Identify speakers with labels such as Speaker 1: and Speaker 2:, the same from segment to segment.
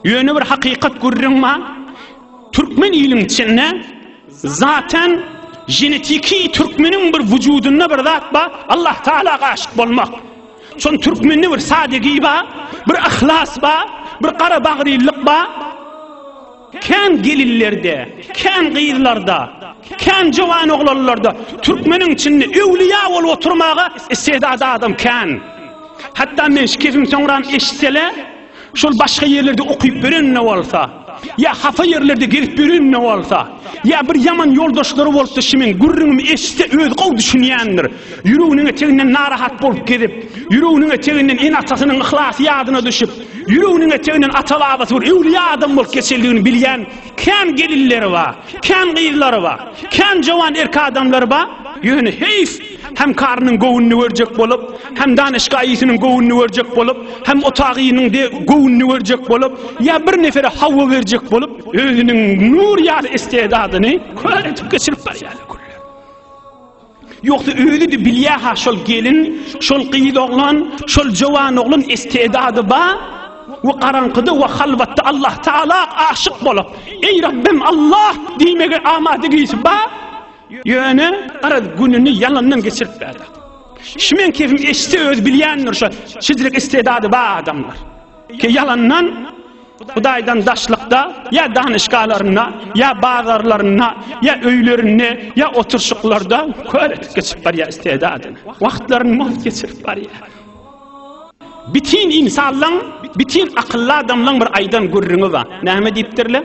Speaker 1: Ýöne bir hakykat gürrüň bar. Türkmen iliň içinde zaten genetiki türkmeniň bir vücudunda bir zat bar. Allah Taala aşyk bolmak. Şon türkmende bir sadegi bar, bir ihlas bar, bir gara bagrylyk bar. Kän gelinlerde, kän gyzlarda, kän jowan oglanlarda türkmeniň içinde öwliýa bolup oturmaga istedady adam kän. Hatda men şu kepim soňram eşitsele, Şol başga ýerlerde okyp ýörenine bolsa, ýa hapa ýerlerde gezip ýörenine bolsa, ýa bir ýaman ýoldaşlary bolupdy şimiň gürrüňimi eşitse özi gowy düşünýändir. Ýüreginiň eteginden narahat bolup gezip, ýüreginiň eteginden ene-atasynyň yhlasy ýadyna düşüp, ýüreginiň eteginden ata-babasy bir öwlüýä adam bolup geçendigini bilýän kän gelinleri bar, kän gyzlary bar, kän jowan erk adamlary bar. Ýöne heýf! Hem karynyň göwnüni görjek bolup, hem danyşgaýysynyň göwnüni görjek bolup, hem otagynyň de göwnüni görjek bolup, ýa bir nefere hawa berjek bolup, özüniň nur ýaly istedadyny kör edip geçirip barýarlar köller. Ýogsa özi-de bilýä-ha şol gelin, şol gyz oglan, şol jowan oglan istedady ba, we garaňkyda we halwatda Allah Taala aşyk bolup, Eý Rabbim Allah! diýmege amada gisi ba, Ýöne garaz gününi ýalandan geçiripdi adam. Şu men kefim eşse öz bilýändir şu şidrik istedady ba adamlar. Ke ýalandan Hudaýdan daşlykda ýa danyşgalarynda ýa bazarlarynda ýa öýlerinde ýa oturşyklarda kör etip geçip barýar istedadyn. Wagtlaryny mos geçirip barýar. Bitin insanlaň, bitin akylly adamlaň bir aýdan gürrüňi bar. Näme diýipdirler?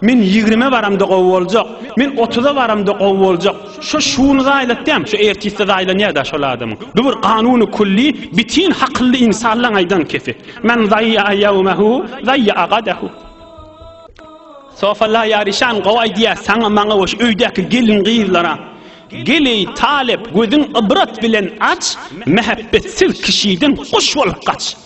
Speaker 1: Men ýigrime baramda gowy boljak, men otuza baramda gowy boljak. Şo şuny zaýlatýam, şo ertisi zaýlanýa-da şol adamyň. Bu bir kanuny külli, bitin hakylly ynsanlaň aýdan kepi. Men zaýýa'a ýawmahu, zaýýa'a gadahu. Sofala ýaryşan gowy aýdýa, saňa, maňa we şu öýdäki gelin-gyzlara. Gel eý, talyp, gözüň ybrat bilen aç, mähebbetsiz kişiden guş bolup gaç.